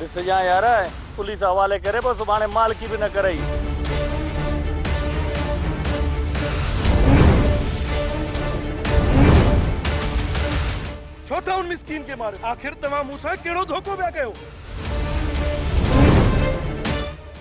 ڏسجان يار پوليس حوالي ڪري پوء سڀاڻي مالڪي به نه ڪرئي. ڇو ٿا ان مسڪين کي ماريو؟ آخر توهان مون سان ڪهڙو ڌوڪو پيا ڪيو؟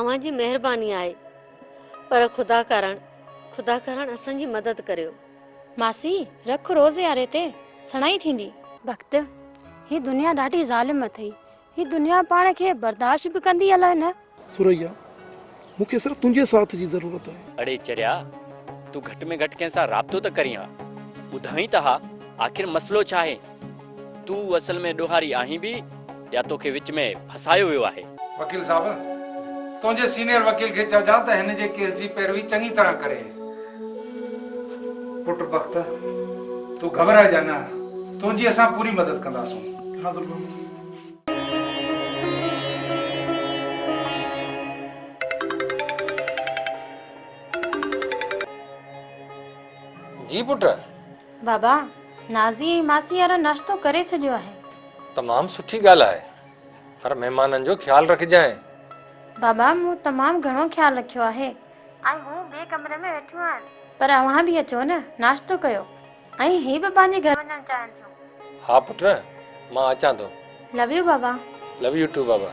اوهان جي مهرباني آهي پر خدا ڪارڻ خدا ڪارڻ اسان جي مدد ڪريو. ماسي رک روز ياري تي سڻائي ٿيندي. بخت هي دنيا ڏاڍي ظالم اٿئي هي دنيا پاڻ کي برداشت به ڪندي الاء نه. ثريا مون کي صرف تنهنجي ساٿ جي ضرورت آهي. اڙي چريا تون گهٽ ۾ گهٽ ڪنهن سان رابطو ته ڪرين ها ٻڌائين ته ها آخر مسئلو ڇا آهي. تون اصل ۾ ڏوهاري آهين به يا توکي وچ ۾ ڦاسايو ويو آهي؟ وڪيل صاحب، تنهنجي سينيئر وڪيل کي چئجان ته هن جي ڪيس جي پيروي چڱي طرح ڪري. پٽ بخت، تون گهٻرائجان نه، تنهنجي اسان پوري مدد ڪنداسون. حاضر بابا. جي پٽ. بابا، نازي ۽ ماسي يارا ناشتو ڪري ڇڏيو آهي. تمام سٺي ڳالهه آهي. پر مهمانن جو خيال رکجانء. بابا، مون تمام گهڻو خيال رکيو آهي. ۽ هو ٻئي ڪمري ۾ ويٺيون آهن. پر اوهان به اچو نه، ناشتو ڪيو. ۽ هي به پنهنجي گهر وڃڻ چاهين ٿيون. ها پٽ، مان اچان ٿو. لو يو بابا. لو يو ٽو بابا.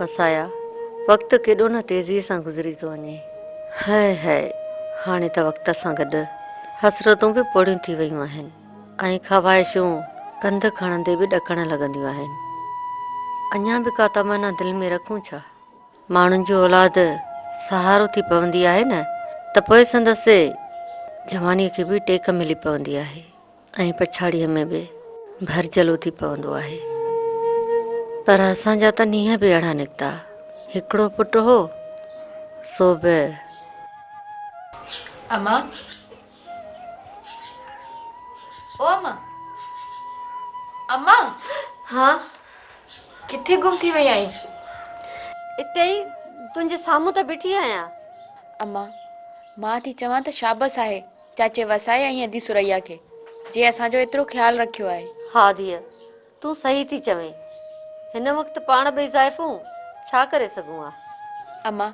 وسايا، وقت ڪيڏو نه تيزيء سان گذري ٿو وڃي. هئه هئه، هاڻي ته وقت سان گڏ حسرتون به پوڙهيون ٿي ويون آهن ۽ خواهشون ڪنڌ کڻندي به ڏڪڻ لڳنديون آهن. اڃا به ڪا تمنا دل ۾ رکون ڇا؟ ماڻهن جي اولاد سهارو ٿي پوندي آهي نه ته پوء سندس جوانيء کي به ٽيڪ ملي پوندي آهي. ۽ پڇاڙيء ۾ به ڀرجل اٿي پوندو آهي. پر اسان جا ته نينهن به اهڙا نڪتا. هڪڙو پٽ هو، سو به. اما! او اما! اما! ها! ڪٿي گم ٿي وئي آهين؟ اتي ئي، تنهنجي سامهون ته بيٺي آهيان. اما! مان ٿي چوان ته شابس آهي. چاچي وسائي ۽ ادي ثريا کي جنهن اسان جو ايترو خيال رکيو آهي. ها ڌيء تون صحيح ٿي چوين. هن وقت پاڻ ٻئي زائفون ڇا ڪري سگهون ها. اما،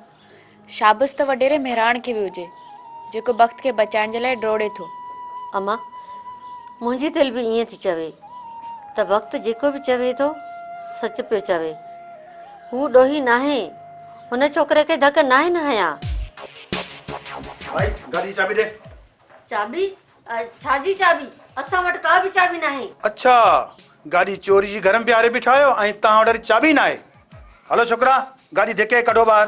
شابس ته وڏيري مهراڻ کي به هجي، جيڪو بخت کي بچائڻ جي لاء ڊوڙي ٿو. اما، منهنجي دل به ائين ٿي چوي ته بخت جيڪو به چوي ٿو سچ پيو چوي. هو ڏوهي ناهي. هن ڇوڪري کي ڌڪ ناهي نه هنيان. ڀائي گاڏي جي چاٻي ڏي. چاٻي؟ ڇا جي چاٻي؟ اسان وٽ ڪا به چاٻي ناهي. اڇا گاڏي چوري جي گهر ۾ بيهاري بيٺا آهيو ۽ توهان وٽ وري چاٻي ناهي. هلو ڇوڪرا گاڏي ڌڪي ڪڍو ٻاهر.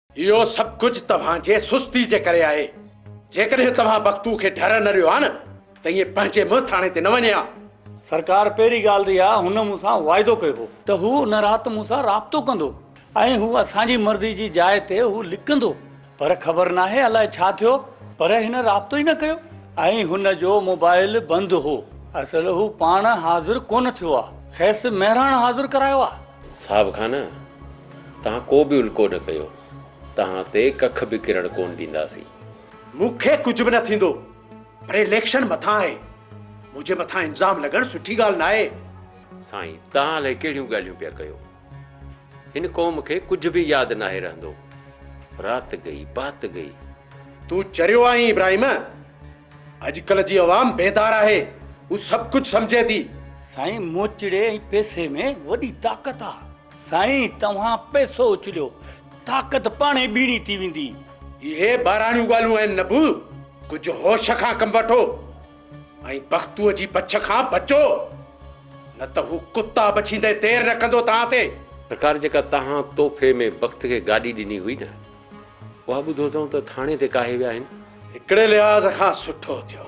اهو سڀ ڪجهه توهان جي سستي جي ڪري آهي. جيڪڏهن توهان بختو کي ڍر نه ڏيو ها نه ته ائين پنهنجي منهن ٿاڻي تي نه وڃي ها. سرڪار پهرين ڳالهه ته اها هن مون سان واعدو ڪيو هو. ته هو ان رات مون سان رابطو ڪندو ۽ هو اسان جي مرضي جي جاء تي هو لڪندو پر خبر ناهي الائي ڇا ٿيو پر هن رابطو ئي نه ڪيو ۽ هن جو موبائيل بند هو اصل هو پاڻ حاضر ڪونه ٿيو آ کيس مهراڻ حاضر ڪرايو آ. صاحب کان نه تهان ڪو به الڪو نه ڪيو، تهان تي ڪک به ڪرڻ ڪونه ڏينداسين. مون کي ڪجهه به نه ٿيندو پر اليڪشن مٿان آهي، منهنجي مٿان الزام لڳڻ سٺي ڳالهه ناهي. سائين تهان الائي ڪهڙيون ڳالهيون پيا ڪيو، هن قوم کي ڪجهه به ياد ناهي رهندو، رات گئي بات گئي. تون چريو آهين ابراهيم، اڄڪلهه جي عوام بيدار آهي، هو سڀ ڪجهه سمجهي ٿي. سائين موچڙي ۽ پئسي ۾ وڏي طاقت آهي. سائين توهان پئسو اڇليو طاقت پاڻهي ٻيڻي ٿي ويندي. اهي ٻاراڻيون ڳالهون آهن نبو ڪجهه هوش کان ڪم وٺو ۽ بختوء جي بڇ کان بچو نه ته هو ڪتا بڇيندي دير نه ڪندو توهان تي. سرڪار جيڪا توهان تحفي ۾ بخت کي گاڏي ڏني هئي نه اها ٻڌو اٿئون ته ٿاڻي تي ڪاهي ويا آهن. هڪڙي لحاظ کان سٺو ٿيو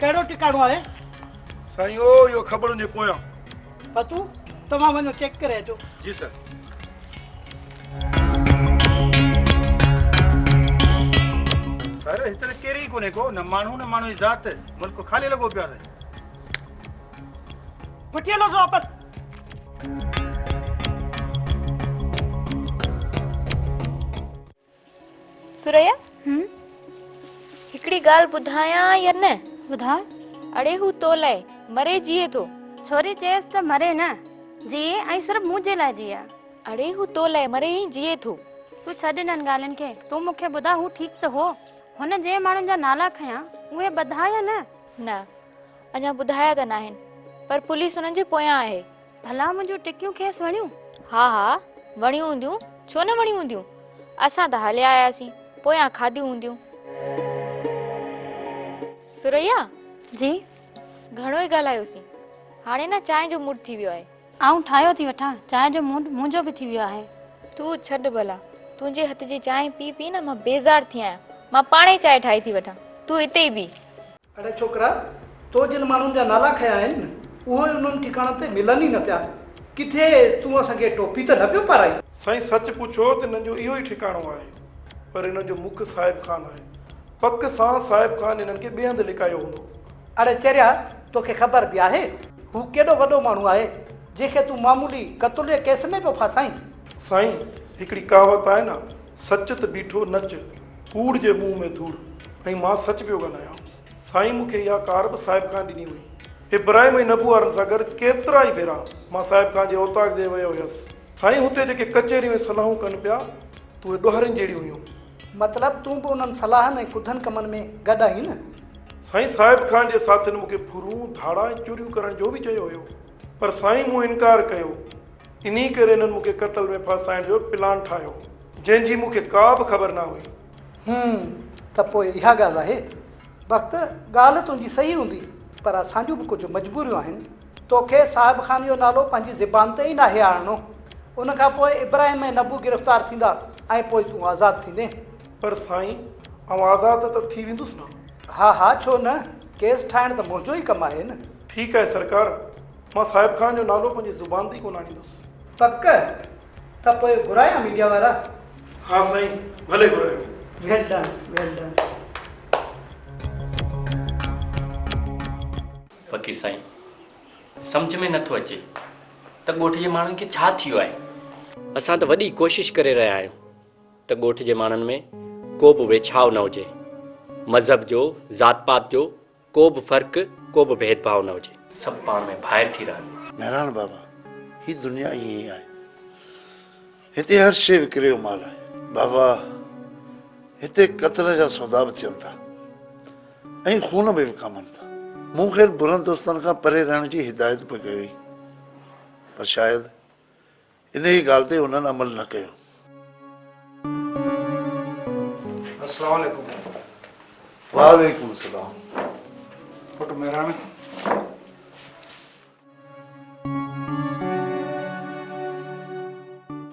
ڪهڙو ٽڪاڻو آهي؟ سائين او اهو کٻڙن جي پويان. فتو توهان وڃو چيڪ ڪري اچو. جي سر. سر هت ته ڪير ئي ڪونهي ڪو نه ماڻهو نه ماڻهو جي ذات ملڪ خالي لڳو پيو آهي. وٺي هلوس واپس. ثريا، هم. هڪڙي ڳالهه ٻڌايان يا نه؟ ٻڌاء. اڙي هو تو لاء مري جيئي ٿو. ڇوري چيس ته مري نه، جيئي ۽ صرف مون جي لاء جيئي. اڙي هو تو لاء مري ۽ جيئي ٿو. تون ڇڏ انهن ڳالهين کي، تون مون کي ٻڌاء هو ٺيڪ ته هو؟ هن جنهن ماڻهن جا نالا کنيا، اهي ٻڌا يا نه؟ نه، اڃا ٻڌايا ته ناهن، پر پوليس انهن جي پويان آهي. ڀلا منهنجون ٽڪيون کيس وڻيون؟ ها ها وڻيون هونديون ڇو نه وڻيون هونديون اسان ته هليا آياسين پويان کاڌيون هونديون. ثريا! جي؟ گهڻو ئي ڳالهايوسين هاڻي نه چانهه جو موڊ ٿي ويو آهي. آئون ٺاهيو ٿي وٺان چانهه جو موڊ منهنجو به ٿي ويو آهي. تون ڇڏ ڀلا تنهنجي هٿ جي چانهه پي پي نه مان بيزار ٿي آهيان مان پاڻهي چانهه ٺاهي ٿي وٺان تون هتي ئي بيهه. اڙي ڇوڪرا! تو جن ماڻهن جا نالا کنيا آهن، اهي انهن ٺڪاڻن تي ملن ئي نه پيا. ڪٿي تون اسان کي ٽوپي ته نه پيو پارائين؟ سائين سچ پڇو ته هنن جو اهو ئي ٺڪاڻو آهي، پر هنن جو مک صاحب خان آهي. پڪ سان صاحب خان هنن کي ٻئي هنڌ لڪايو هوندو. اڙي چريا! تو کي خبر به آهي، هو ڪيڏو وڏو ماڻهو آهي، جنهن کي تون معمولي قتل جي ڪيس ۾ پيو ڦاسائين؟ سائين هڪڙي ڪهاوت آهي نه، سچ ته بيٺو نچ. ڪوڙ جي منهن ۾ ڌوڙ ۽ مان سچ پيو ڳالهايان. سائين مون کي اها ڪار به صاحب خان ڏني هئي. ابراهيم ۽ نبو وارن سان گڏ ڪيترا ئي ڀيرا مان صاحب خان جي اوطاق ڏي ويو هيس. سائين هتي جيڪي ڪچهريون ۽ صلاحون ڪن پيا ته اهي ڏوهارين جهڙيون هيون. مطلب تون به انهن صلاحن ۽ ڪڌن ڪمن ۾ گڏ آهين نه؟ سائين صاحب خان جي ساٿين مون کي ڦرون، ڌاڙا ۽ چوريون ڪرڻ جو به چيو هيو. پر سائين مون انڪار ڪيو. انهي ڪري هنن مون کي قتل ۾ ڦاسائڻ جو پلان ٺاهيو. جنهن جي مون کي ڪا به خبر نه هئي. هون، ته پوء اها ڳالهه آهي. بخت، ڳالهه تنهنجي صحيح هوندي، پر اسان جون به ڪجهه مجبوريون آهن. تو کي صاحب خان جو نالو پنهنجي زبان تي ئي ناهي آڻڻو. ان کان پوء ابراهيم ۽ نبو گرفتار ٿيندا ۽ پوء تون آزاد ٿيندين. پر سائين، آئون آزاد ته ٿي ويندس نه؟ ها ها، ڇو نه؟ ڪيس ٺاهڻ ته منهنجو ئي ڪم آهي نه. ٺيڪ آهي سرڪار. مان صاحب خان جو نالو پنهنجي زبان تي ئي ڪونه آڻيندس. پڪ؟ ته پوء گهرايان ميڊيا وارا؟ ها سائين، ڀلي گهرايو. Well done, well done. فقير سائين، سمجهه ۾ نه ٿو اچي ته ڳوٺ جي ماڻهن کي ڇا ٿيو آهي؟ اسان ته وڏي ڪوشش ڪري رهيا آهيون ته ڳوٺ جي ماڻهن ۾ ڪو به ويڇاء نه هجي، مذهب جو، ذات پات جو، ڪو به فرق ڪو به ڀيد ڀاء نه هجي. سڀ پاڻ ۾ ڀائر ٿي رهن. مهراڻ بابا هي دنيا ائين ئي آهي هتي هر شيء وڪري جو مال آهي بابا هتي قتل جا سودا به ٿين ٿا ۽ خون به وڪامن ٿا مون خير برن دوستن کان پري رهڻ جي هدايت به ڪئي هئي پر شايد انهيء ڳالهه تي انهن عمل نه ڪيو. السلام عليڪم پٽ. وعليڪم السلام. پٽ مهراڻ.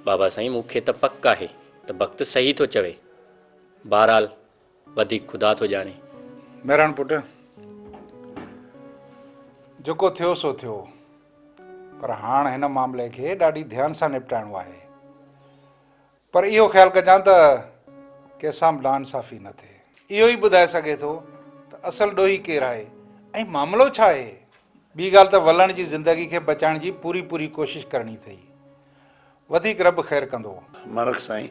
بابا سائين مون کي ته پڪ آهي ته بخت صحيح ٿو چوي. بهرحال وڌيڪ خدا ٿو ڄاڻي. مهراڻ پٽ جيڪو ٿيو سو ٿيو پر هاڻ هن معاملي کي ڏاڍي ڌيان سان نپٽائڻو آهي پر اهو خيال ڪجان ته ڪيسان به ناانصافي نه ٿئي. اهو ئي ٻڌائي سگهي ٿو ته اصل ڏوهي ڪير آهي ۽ معاملو ڇا آهي. ٻي ڳالهه ته ولڻ جي زندگي کي بچائڻ جي پوري پوري ڪوشش ڪرڻي اٿئي. وڌيڪ رب خير ڪندو. مڙک سائين.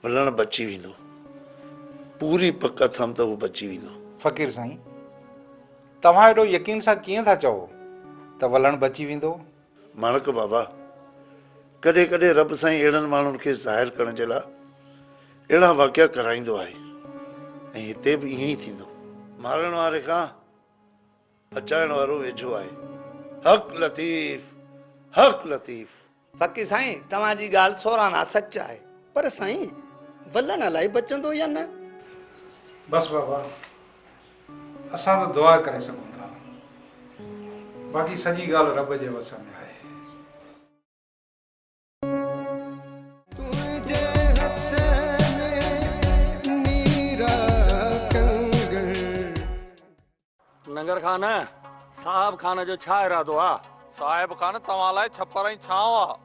ملڻ بچي ويندو. پوري پڪ اٿم ته هو بچي ويندو. فقير سائين! توهان ايڏو يقين سان ڪيئن ٿا چئو ته ولڻ بچي ويندو؟ ماڻڪ بابا! ڪڏهن ڪڏهن رب سائين اهڙن ماڻهن کي ظاهر ڪرڻ جي لاء اهڙا واقعا ڪرائيندو آهي ۽ هتي به ائين ئي ٿيندو. مارڻ واري کان بچائڻ وارو ويجهو آهي. حق لطيف! حق لطيف! باقي سائين توهان جي ڳالهه سورانا سچ آهي. پر سائين ولڻ الائي بچندو يا نه. بس بابا اسان ته دعا ڪري سگهون ٿا باقي سڄي ڳالهه رب جي وس ۾ آهي. تنهنجي هٿ ۾ نيرا ڪنگڻ. ننگر خان، صاحب خان جو ڇا ارادو آ؟ صاحب خان، توهان لاء ڇپر ۽ ڇانو آ.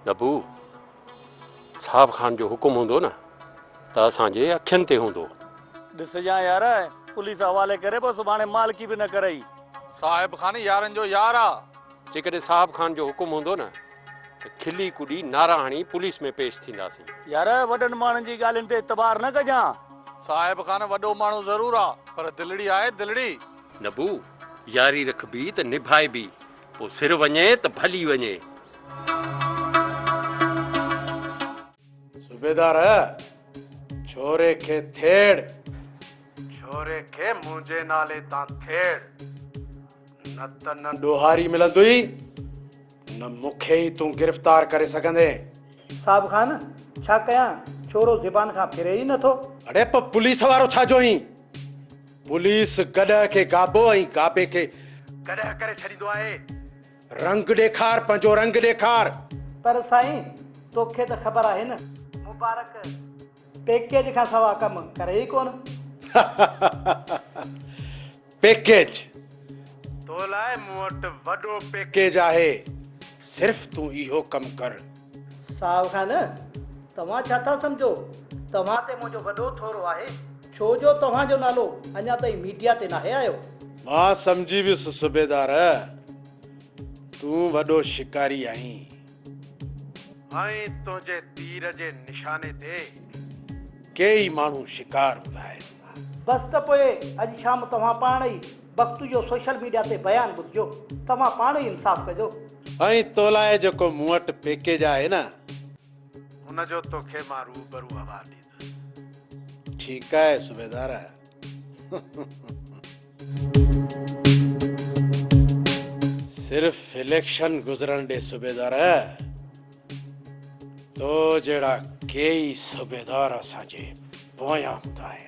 دبو، صاحب خان جو حڪم هوندو نه ته اسان جي اکين تي هوندو. ڏسجان يار، پوليس حوالي ڪري پوء سڀاڻي مالڪي به نه ڪرئي. صاحب خان يارن جو يار آ. جيڪڏهن صاحب خان جو حڪم هوندو نه ته کلي ڪڏي نعرا هڻي پوليس ۾ پيش ٿينداسين. يار وڏن ماڻهن جي ڳالهين تي اعتبار نه ڪجان. صاحب خان وڏو ماڻهو ضرور آ پر دلڙي آهي دلڙي. نبو، ياري رکبي ته نڀائبي، پوء سر وڃي ته ڀلي وڃي. صوبيدار، ڇوري کي ٿيڙ. ڇوري کي منهنجي نالي تان ٿيڙ. نه ته نه ڏوهاري ملندئي نه مون کي ئي تون گرفتار ڪري سگهندين. صاحب خان ڇا ڪيان ڇورو زبان کان ڦري ئي نٿو. اڙي پوء پوليس وارو ڇا جو هين پوليس گڏهه کي گابو ۽ گابي کي گڏهه ڪري ڇڏيندو آهي رنگ ڏيکار پنهنجو رنگ ڏيکار. پر سائين توکي ته خبر آهي نه مبارڪ پيڪيج کان سوا ڪم ڪري ئي ڪونه. پيڪيج تو لاء مون وٽ وڏو پيڪيج آهي صرف تون اهو ڪم ڪر. صاحب خان توهان ڇا ٿا سمجهو توهان تي منهنجو وڏو ٿورو آهي ڇو جو توهان جو نالو اڃا تائين ميڊيا تي ناهي آيو. مان سمجهي ويس صوبيدار تون وڏو شڪاري آهين. ائين تنهنجي تير جي نشاني تي ڪيئي ماڻهو شڪار هوندا آهن. بس ته پوء اڄ شام توهان پاڻ ئي بختو جو سوشل ميڊيا تي بيان ٻڌجو. توهان پاڻ ئي انصاف ڪجو. ائين تو لاء جيڪو مون وٽ پيڪيج آهي نه ان جو توکي مان روبرو حوال ڏيندس. ٺيڪ آهي صوبيدار. صرف اليڪشن گذرڻ ڏي صوبيدار تو جهڙا ڪيئي صوبيدار اسان جي پويان هوندا آهن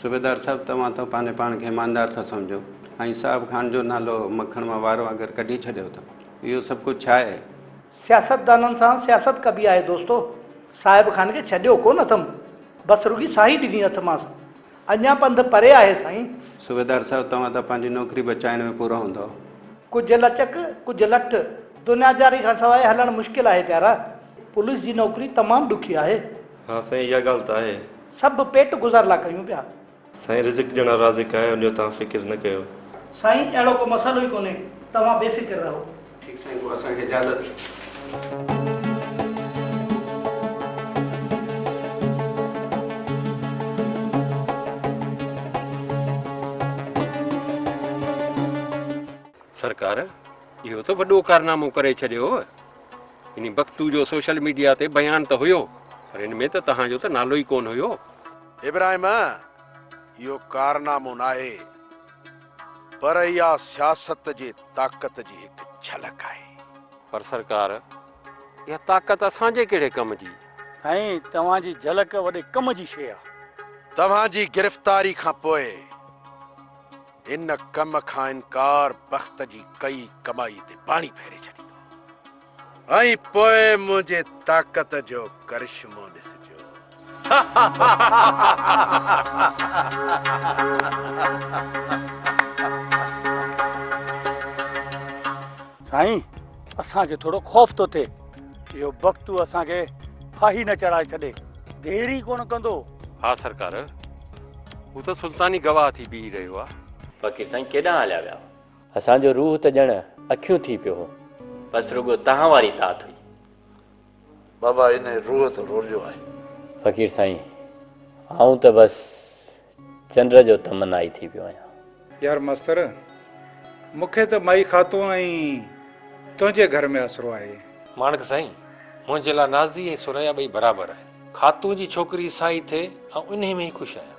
صوبيدار صاحب توهان ته پنهنجي پاڻ کي ايماندار ٿا سمجهو ۽ صاحب خان جو نالو مکڻ مان وار وانگر ڪڍي ڇڏيو ٿا اهو سڀ ڪجهه ڇا آهي؟ سياستدانن سان سياست ڪبي آهي دوستو صاحب خان کي ڇڏيو ڪونه اٿم بس رڳي ساهي ڏني اٿمانس اڃان پنڌ پري آهي سائين. صوبيدار صاحب توهان ته پنهنجي نوڪري بچائڻ ۾ پورا هوندؤ. ڪجهه لچڪ ڪجهه لٺ دنياداري کان سواء هلڻ مشڪل آهي پيارا پوليس جي نوڪري تمام ڏکي آهي. ها سائين اها ڳالهه ته آهي سڀ پيٽ گذار لا ڪريون پيا. سائين رزق ڏيڻ وارو رازق آهي ان جو توهان فڪر نه ڪيو. سائين اهڙو ڪو مسئلو ئي ڪونهي توهان بي فڪر رهو. ٺيڪ سائين پوء اسان کي اجازت. سرڪار اهو ته وڏو ڪارنامو ڪري ڇڏيو. انهي بگٽو جو سوشل ميڊيا تي بيان ته هيو پر ان ۾ ته توهان جو ته نالو ئي ڪونه هيو. ابراهيم، اهو ڪارنامو ناهي پر اها سياست جي طاقت جي هڪ جهلڪ آهي. پر سرڪار، اها طاقت اسان جي ڪهڙي ڪم جي؟ سائين، توهان جي جهلڪ وڏي ڪم جي شيء آهي. توهان جي گرفتاري کان پوء ان ڪم کان انڪار بخت جي ڪئي ڪمائي تي پاڻي ڦيري ڇڏيندو ۽ پوء منهنجي طاقت جو ڪرشمو ڏسجو. سائين اسان کي ٿورو خوف ٿو ٿئي اهو بختو اسان کي ڦاهي نه چڙهائي ڇڏي دير ئي ڪونه ڪندو. ها سرڪار هو ته سلطاني گواهه ٿي بيهي رهيو آ. فقير سائين ڪيڏانهن هليا ويا. اسان جو روح ته ڄڻ اکيون ٿي پيو هو. بس رڳو تهان واري تات هئي. بابا انهي روح ته روليو آهي. فقير سائين آئون ته بس. چنڊ جو تمنائي ٿي پيو آهيان. يار مستر! مون کي ته مائي خاتون ۽ تنهنجي گهر ۾ آسرو آهي. ماڻڪ سائين! منهنجي لاء نازي ۽ ثريا ٻئي برابر آهن. خاتون جي ڇوڪري سائين ٿئي، آئون انهيء ۾ ئي خوش آهيان.